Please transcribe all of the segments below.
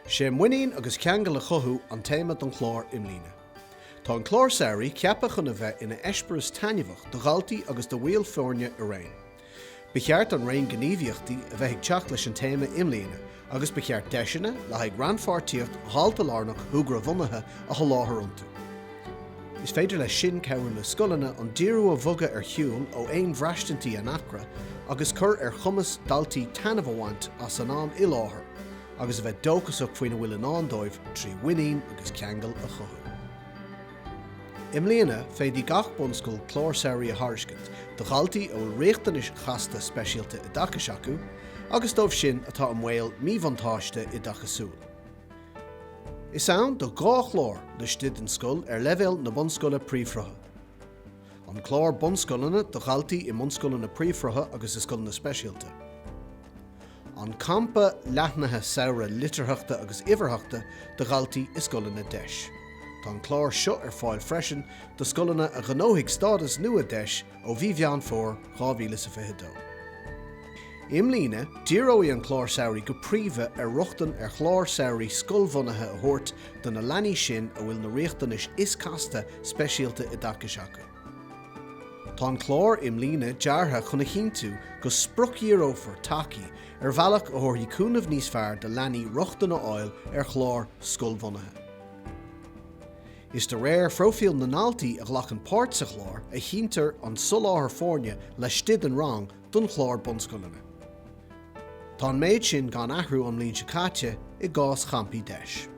Is é muinín agus ceangal a chothú an téama don chlár i mbliana. Tá an clár samhraidh ceaptha chun a bheith ina eispéireas taitneamhach do dhaltaí agus do bhaill foirne araon. Ba cheart an raon gníomhaíochtaí a bheith ag teacht leis an téama i mbliana, agus ba cheart deiseanna le haghaidh rannpháirtíocht dhaltalárnach shúgradhbhunaithe a sholáthar iontu. Is féidir leis sin cabhrú le scoileanna an díriú a bhogadh ar shiúl ó aon bhraistintí anacra agus cur ar chumas daltaí taitneamh a bhaint as an am i láthair agus a bheith dóchasach faoina bhfuil i ndán dóibh trí mhuinín agus ceangal a chothú. I mbliana, féadfaidh gach bunscoil clár samhraidh a thairiscint do dhaltaí a bhfuil riachtanais chasta speisialta oideachais acu agus dóibh sin atá i mbaol míbhuntáiste oideachasúil. Is ann do dhá chlár laistigh den scoil ar leibhéal na bunscoile príomhshrutha, An Clár Bunscoileanna do dhaltaí i mbunscoileanna príomhshrutha agus i scoileanna speisialta, An Campa Leathnaithe Samhraidh Litearthachta agus Uimhearthachta do dhaltaí i scoileanna deis. Tá an clár seo ar fáil freisin do scoileanna a ghnóthaigh stádas nua deis ó mhí Mheán Fómhair 2022. I mbliana, díreoidh an clár samhraidh go príomha ar rochtain ar chláir samhraidh scoilbhunaithe a thabhairt do na leanaí sin a bhfuil na riachtanais is casta speisialta oideachais acu. Tá an clár i mbliana deartha chun a chinntiú go spriocdhíreofar tacaí ar bhealach a thabharfaidh cúnamh níos fearr do leanaí rochtain a fháil ar chláir scoilbhunaithe. Is de réir phróifíl na ndaltaí a ghlacann páirt sa chlár a chinntear an soláthar foirne laistigh den rang don chlár bunscoileanna. Tá an méid sin gan athrú ón mbliain seo caite i gcás champaí Deis.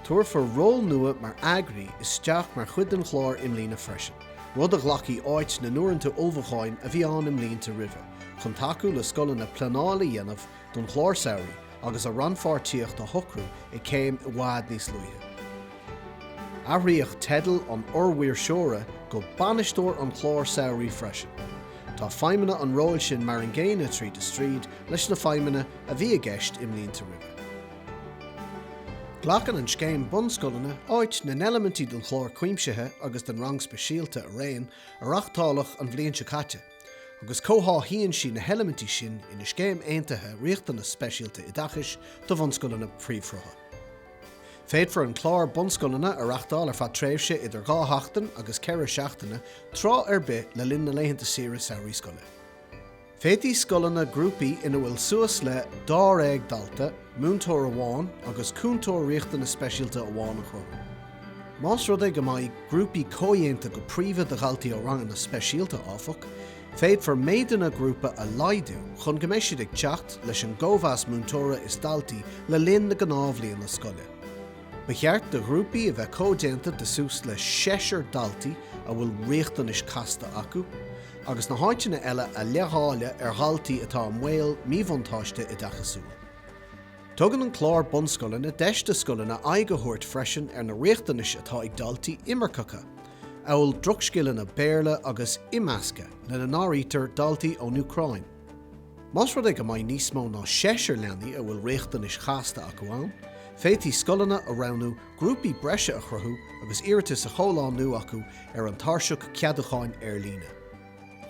Tabharfar ról nua mar eagraí isteach mar chuid den chlár i mbliana freisin, rud a ghlacfaidh áit na n-uaireanta ullmhúcháin a bhí ann i mblianta roimhe, chun tacú le scoileanna pleanáil a dhéanamh don chlár samhraidh agus a rannpháirtíocht a shocrú ag céim i bhfad níos luaithe. Athraíodh teideal an fhormhaoirseora go 'bainisteoir an chláir samhraidh' freisin. Tá feidhmeanna an róil sin mar an gcéanna tríd is tríd leis na feidhmeanna a bhí i gceist i mblianta roimhe. Glacann an Scéim Bunscoileanna áit na n-eilimintí den Chlár Cuimsithe agus den Rang Speisialta araon a reáchtáladh an bhliain seo caite. agus comhtháthaíonn sí na heilimintí sin ina scéim aontaithe riachtanas speisialta oideachais do bhunscoileanna príomhshrutha. Féadfar an clár bunscoileanna a reachtáil ar feadh tréimhse idir dhá sheachtain agus ceithre seachtaine tráth ar bith le linn na laethanta saoire samhraidh scoile. Féadfaidh scoileanna grúpaí ina bhfuil suas le dáréag dalta, múinteoir amháin agus cúntóir riachtanas speisialta amháin a chruthú. Más rud é go mbeidh grúpaí comhdhéanta go príomha de dhaltaí ó ranganna speisialta, áfach, féadfar méideanna grúpa a laghdú chun go mbeidh siad ag teacht leis an gcóimheas múinteora is daltaí le linn na gnáthbhliana scoile. Ba cheart do ghrúpaí a bheith comhdhéanta de suas le seisear daltaí a bhfuil riachtanais casta acu, agus na háiteanna eile a leithdháileadh ar dhaltaí atá i mbaol míbhuntáiste oideachasúil. Tugann an clár bunscoileanna deis do scoileanna aghaidh a thabhairt freisin ar na riachtanais atá ag daltaí imirceacha, amhail drochscileanna Béarla agus imeascadh, lena n-áirítear daltaí ón Úcráin. Más rud é go mbeidh níos mó ná seisear leanaí a bhfuil riachtanais chasta acu ann, féadfaidh scoileanna a roghnú grúpaí breise a chruthú agus iarratas á chomhlánú acu ar an tairseach ceadúcháin ar líne.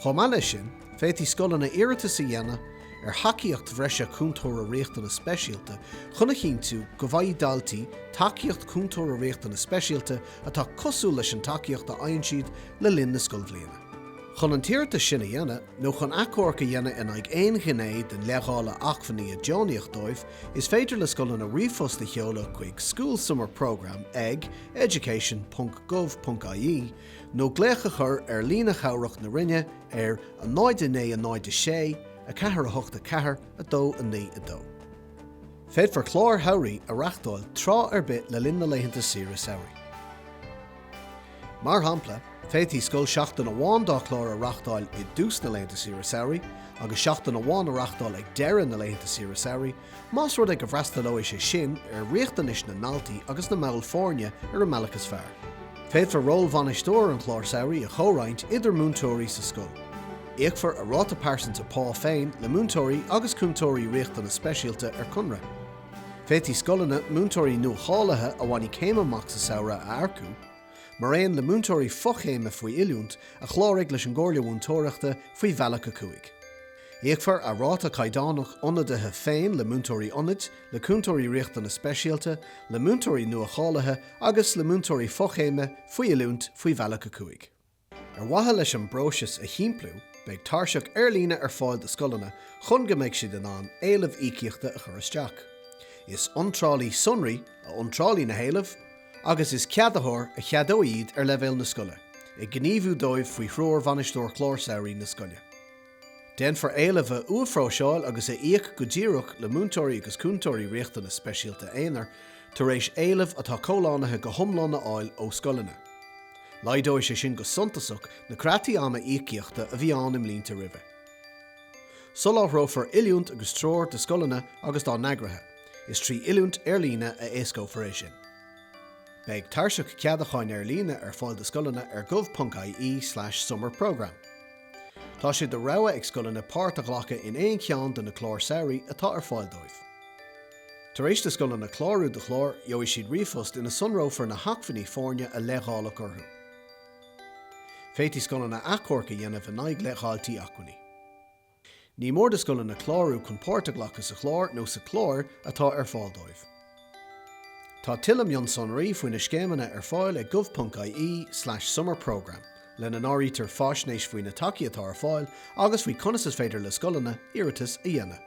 Chomh maith leis sin, féadfaidh scoileanna iarratas a dhéanamh ar thacaíocht bhreise Cúntóra Riachtanas Speisialta chun a chinntiú go bhfaighidh daltaí tacaíocht Cúntóra Riachtanas Speisialta atá cosúil leis an tacaíocht a fhaigheann siad le linn na scoilbhliana. Chun an t-iarratas sin a dhéanamh, nó chun achomharc a dhéanamh in aghaidh aon ghné den leithdháileadh acmhainní a deonaíodh dóibh, is féidir le scoileanna ríomhphost a sheoladh chuig schoolsummerprogramme ag, education.gov.ie, nó glaoch a chur ar líne chabhrach na Roinne ar a 0 9 0 6 4 8 4 2 9 2. Féadfar cláir shamhraidh a reáchtáil tráth ar bith le linn na laethanta saoire samhraidh. Mar shampla, féadfaidh scoil seachtain amháin dá chlár a reáchtáil i dtús na laethanta saoire samhraidh agus seachtain amháin a reáchtáil ag deireadh na laethanta saoire samhraidh, Más rud é go bhfreastalóidh sé sin ar riachtanais na ndaltaí agus na mball foirne ar an mbealach is fearr, féadfar ról bhainisteoir an chláir samhraidh a chomhroinnt idir múinteoirí sa scoil. Íocfar a ráta pearsanta pá féin le múinteoirí agus cúntóirí riachtanas speisialta ar conradh. Féadfaidh scoileanna múinteoirí nuacháilithe a bhainfidh céim amach sa samhradh a earcú, mar aon le múinteoirí fochéime faoi oiliúint a chláraigh leis an gComhairle Mhúinteoireachta faoi Bhealach 5. Íocfar a ráta caighdeánach ionadaithe féin le múinteoirí ionaid, le cúntóirí riachtanas speisialta, le múinteoirí nua-cháilithe agus le múinteoirí fochéime faoi oiliúint faoi Bhealach 5. Ar mhaithe leis an bpróiseas a shimpliú, beidh tairseach ar líne ar fáil do scoileanna chun go mbeidh siad in ann éilimh íocaíochta a chur isteach. Is iontrálaí sonraí a iontrálfaidh na héilimh agus is ceadaitheoir a cheadóidh iad ar leibhéal na scoile, ag gníomhú dóibh faoi threoir Bhainisteoir Chlár Samhraidh na scoile. Déanfar éilimh a uathphróiseáil agus a íoc go díreach le Múinteoirí agus Cúntóirí Riachtanas Speisialta Aonair tar éis éileamh atá comhlánaithe go hiomlán a fháil ó scoileanna. Laghdóidh sé sin go suntasach na creataí ama íocaíochta a bhí ann i mblianta roimhe. Soláthrófar oiliúint agus treoir do scoileanna agus dá n-eagraithe, is trí oiliúint ar líne a éascófar é sin. Beidh tairseach ceadacháin ar líne ar fáil do scoileanna ar gov.ie/summerprogramme. Tá sé de rogha ag scoileanna páirt a ghlacadh in aon cheann de na cláir samhraidh atá ar fáil dóibh. Tar éis do scoileanna clárú do chlár, gheobhaidh siad ríomhphost ina sonrófar na hacmhainní foirne a leithdháileadh orthu. Féadfaidh scoileanna achomharc a dhéanamh in aghaidh leithdháiltí acmhainní. Ní mór do scoileanna clárú chun páirt a ghlacadh sa chlár nó sna cláir atá ar fáil dóibh. Tá tuilleadh mionsonraí faoi na scéimeanna ar fáil ag gov.ie/summer programme, lena n-áirítear faisnéis faoi na tacaí atá ar fáil agus faoi conas is féidir le scoileanna iarratas a dhéanamh.